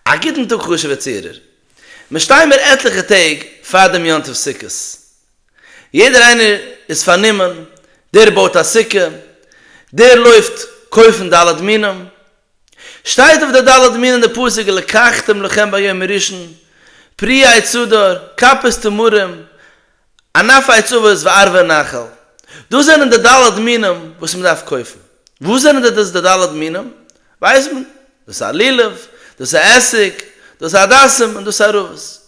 א גוטן טאג חשוב'ער צוהערער. מיר שטייען מיר עטליכע טעג פאר דעם יום טוב סוכות. יעדער איינער איז פארנומען, דער בויט א סוכה, דער לויפט קויפן ד' מינים. שטייט אויף די ד' מינים די פסוק לקחתם לכם ביום הראשון, פרי עץ הדר, כפות תמרים, ענף העצבות וערבי נחל, דאס זענען די ד' מינים וואס מען דארף קויפן. וואס זענען די דאס די ד' מינים? ווייסט מען. דאס א לולב, דאס א עסיק, דאס א הדסים און דאס א ערבות.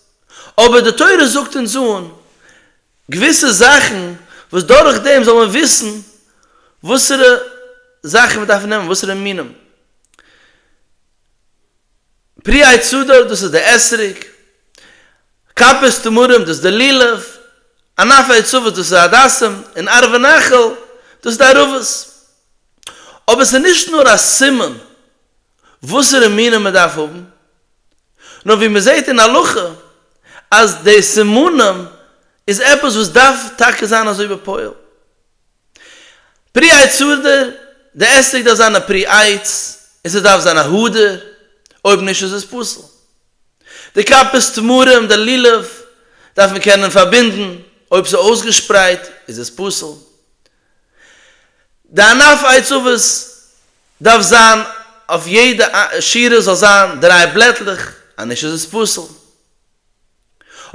אבער די תורה זאגט אונז אן געוויסע זאכן וואס דורך דעם זאל מען וויסן וואסערע זאכן מען דארף נעמען, וואסערע מינים. פרי עץ הדעת דאס איז די אתרוג, כפות תמרים דאס איז די לולב, ענפי עצבות דאס איז הדסים, און ערבי נחל דאס איז די ערבות. אבער עס איז נישט נאר א סימן וואסערע מינים מען דארף האבן, נאר ווי מען זעט אין הלכה אז די סימנים איז עפעס וואס דארף טאקע זיין אזוי בפועל. פרי עץ הארדער, די עסטיק דארף זיין א פרי עץ און ס'דארף זיין א הארדער, אויב נישט איז עס פסול. די כפות תמרים, די לולב, דארף מען קענען פארבינדן, אויב ס'איז אויסגעשפרייט איז עס פסול. די ענף עץ אבות דארף זיין אויף יעדע שורה זאל זיין דריי בלעטלעך, אנישט איז עס פסול.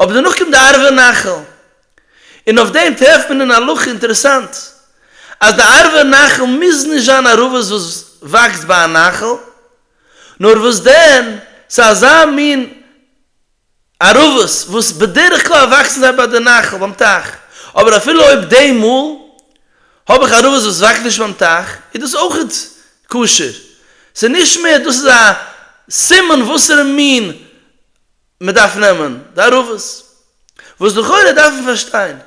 אבער דערנאך קומט די ערבה נחל, און אויף דעם טרעפט מען אין הלכה אינטערעסאנט, אז די ערבה נחל מוז נישט זיין א רבות וואס וואקסט ביי א נחל, נאר וואס דען, ס'איז אזא מין ערבות וואס בדרך כלל וואקסן זיי ביי די נחל, ביים טייך, אבער אפילו אויב די מאל האב איך ערבות וואס וואקסט נישט ביים טייך, איז דאס אויך כשר, ס'איז נישט מער, דאס איז א סימן וואסערע מין מען דארף נעמען די ערבות, וואס לכאורה דארף מען פארשטיין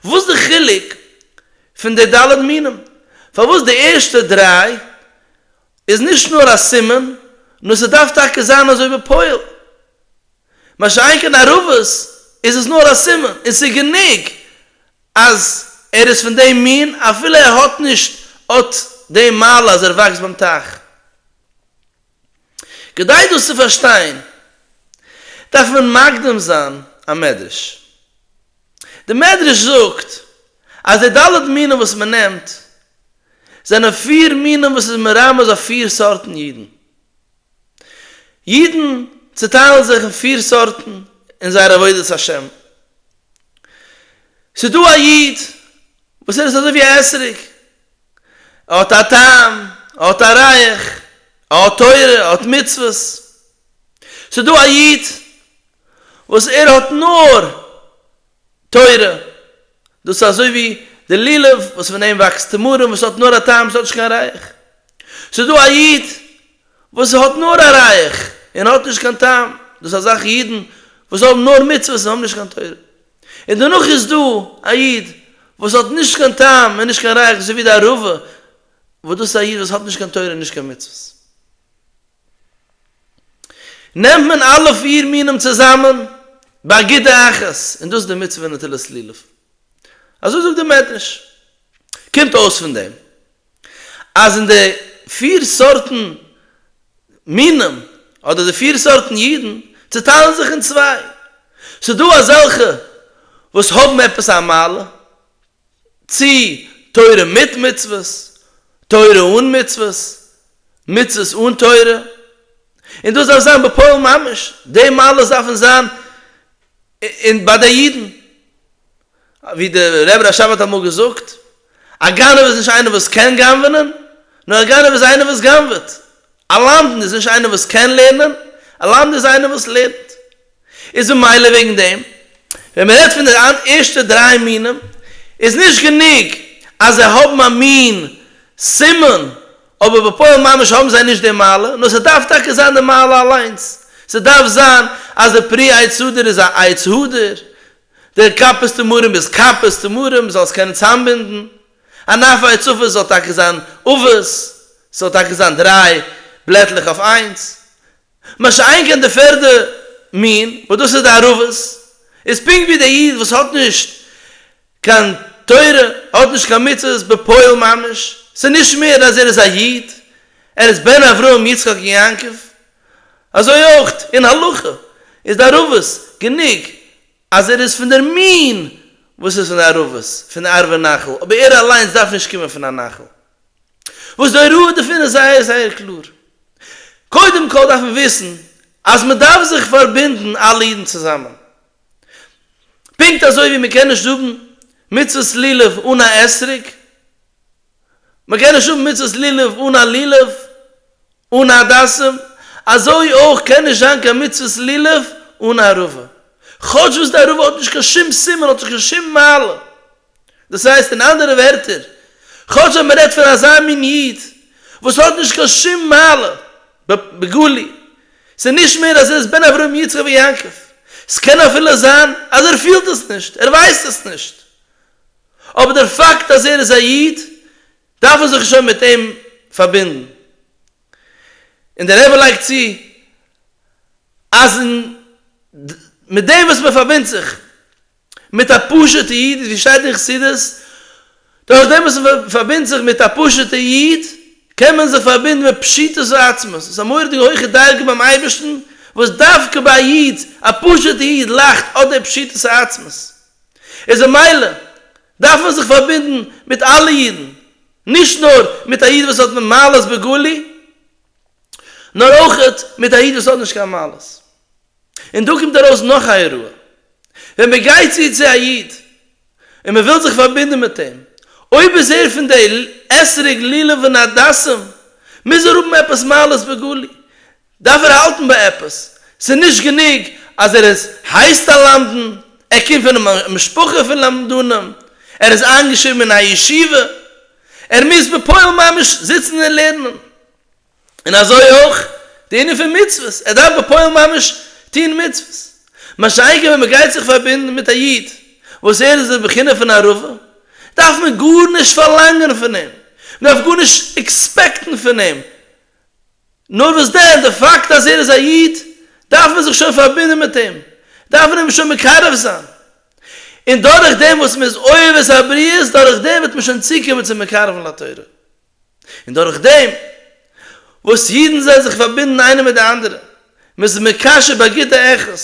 וואס די חילוק פון די ד' מינים, פארוואס די ערשטע דריי איז נישט נאר א סימן, נאר ס'דארף טאקע זיין אזוי בפועל, מה שאין כן ערבות איז עס נאר א סימן, און ס'איז גענוג אז ער איז פון דעם מין אפילו ער האט נישט אט דעם מעלה אז ער וואקסט ביים טייך. כדי דאס צו פארשטיין דארף מען מקדים זיין א מדרש. די מדרש זאגט אז די ד' מינים וואס מען נעמט זענען פיר מינים וואס איז מרמז אויף פיר סארטן אידן. אידן צעטיילן זיך אין פיר סארטן אין זייער עבודת השם. ס'איז דא א איד וואס ער איז אזוי ווי א עסעריג, ער האט א טעם, ער האט א רייך, ער האט תורה, ער האט מצוות. ס'איז דא א איד וואס ער האט נאר תורה, דאס איז אזוי ווי די לולב וואס פון דעם וואקסט תמרים וואס האט נאר א טעם, ס'האט נישט קיין רייך. ס'איז דא א איד וואס האט נאר א רייך און האט נישט קיין טעם, דאס איז אזאלכע אידן וואס האבן נאר מצוות און האבן נישט קיין תורה. און דערנאך איז דא א איד וואס האט נישט קיין טעם און נישט קיין רייך אזוי ווי די ערבה, וואס דאס איז א איד וואס האט נישט קיין תורה און נישט קיין מצוות. נעמט מען אלע פיר מינים צוזאמען באגודה אחת, און דאס איז די מצוה נטילת לולב. אזוי זאגט די מדרש. קומט אויס פון דעם. אז אין די פיר סארטן מינים אדער די פיר סארטן אידן צעטיילן זיך אין צוויי, ס'דא אזעלכע וואס האבן עפעס א מעלה, צי תורה מיט מצוות, תורה אן מצוות, מצוות אן תורה, און דאס דארף זיין בפועל ממש, די מעלות דארפן זיין און ביי די אידן, ווי דער רבי רשב האט אמאל געזאגט, א גנב איז נישט איינער וואס קען גנב'ענען, נאר א גנב איז איינער וואס גנב'עט. א למדן איז נישט איינער וואס קען לערנען, א למדן איז איינער וואס לערנט. איז ממילא וועגן דעם, ווען מען רעדט פון די ערשטע דריי מינים, איז נישט גענוג אז זיי האבן א מין סימן אבער בפועל ממש האבן זיי נישט די מעלה, נאר ס'דארף טאקע זיין די מעלה אליינס, ס'דארף זיין אז די פרי עץ הדר איז א עץ הדר, די כפות תמרים איז כפות תמרים, מ'זאל עס קענען צאמבינדן, אן עפר עץ עופות זאל טאקע זיין עופות, ס'זאל טאקע זיין דריי בלעטלעך אויף איינס, מה שאין כן די פערדע מין וואס דאס איז די ערבות, איז פונקט ווי דער איד וואס האט נישט קיין תורה, האט נישט קיין מצוות בפועל ממש, ס'איז נישט מער אז ער איז א איד, ער איז בן אברהם יצחק און יעקב, אזוי אויך אין הלכה איז די ערבות גענוג אז ער איז פון דער מין וואס איז פון די ערבות, פון די ערבה נחל, אבער ער אליינס דארף נישט קומען פון א נחל. וואס די הוראה דערפון איז זייער זייער קלאר. קודם כל דארף מען וויסן אז מען דארף זיך פארבינדן אלע אידן צוזאמען. פונקט אזוי ווי מען קען נישט האבן מצוות לולב אן א אתרוג, מען קען נישט האבן מצוות לולב אן א לולב, אן א הדסים, אזוי אויך קען נישט זיין קיין מצוות לולב אן א ערבה. כאטש וואס די ערבה האט נישט קיין שום סימן, האט נישט קיין שום מעלה. דאס הייסט אין אנדערע ווערטער, כאטש אז מ'רעדט פון אזא מין איד וואס האט נישט קיין שום מעלה בגלוי, ס'איז נישט מער אז ער איז בן אברהם יצחק ויעקב, ס'קען אפילו זיין אז ער פילט עס נישט, ער ווייסט עס נישט, אבער דער פאקט אז ער איז א איד דארף מען זיך שוין מיט אים פארבינדן. און דער רבי לייגט צו אז מיט דעם וואס מ'פארבינדט זיך, מיט א פשוטע איד איז ווי שטייט אין חסידות, דורך דעם וואס מען פארבינדט זיך מיט א פשוטע איד קען מען זיך פארבינדן מיט פשיטות ועצמות, עס איז א מורא'דיגע הויכע דרגה ביים אייבערשטן וואס דווקא ביי א איד, א פשוטע איד לאכט אט די פשיטות העצמות, איז ממילא דארף מען זיך פארבינדן מיט אלע אידן, נישט נאר מיט א איד וואס האט מעלות בגלוי, נאר אויך מיט א איד וואס האט נישט קיין מעלות. און דא קומט ארויס נאך א אירוע, ווען מען גייט צו צו א איד און מען וויל זיך פארבינדן מיט אים, אויב איז ער פון די עשרה גלילים ונדסים, מוז ער האבן עפעס מעלות בגלוי, דארף ער האלטן ביי עפעס, ס'איז נישט גענוג אז ער איז הייסט א למדן, ער קומט פון א משפחה פון למדנים, ער איז איינגעשריבן אין א ישיבה, ער מוז בפועל ממש זיצן און לערנען. און אזוי אויך די ענין פון מצוות, ער דארף בפועל ממש טון מצוות, משא כ ווען מען גייט זיך פארבינדן מיט א איד וואס ער איז אין בחינה פון ערבה, דארף מען גארנישט פארלאנגען פון אים, מען דארף גארנישט עקספעקטן פון אים, נאר וואס דען, די פאקט אז ער איז א איד, דארף מען זיך שוין פארבינדן מיט אים, דארף מען אים שוין מקרב זיין, און דורך דעם וואס מען איז אוהב את הבריות, דורך דעם וועט מען שוין צוקומען צום מקרבן לתורה. און דורך דעם וואס אידן זענען זיך פארבינדן איינער מיט די אנדערע, מען איז מקשר ביי גוטע ערכות,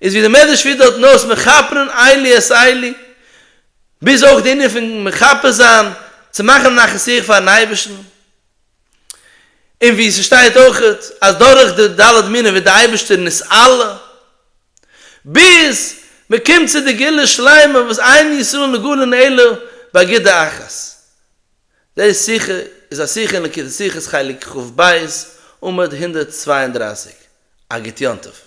איז ווי דער מדרש פירט דארטן אויס מכפרין אלי את אלי, ביז אויך די ענין פון מכפר זיין, צו מאכן א נחת רוח פארן אייבערשטן, און ווי ס'שטייט אויך אז דורך די ד' מינים ווערט דער אייבערשטער נסעל, ביז מען קומט צו די גאולה שלימה וואס עיין ישראל נגאלין אלא באגודה אחת, די שיחה איז א שיחה אין ליקוטי שיחות חלק כב עמוד הונדערט צוויי און דרײַסיק, אגרת יום טוב.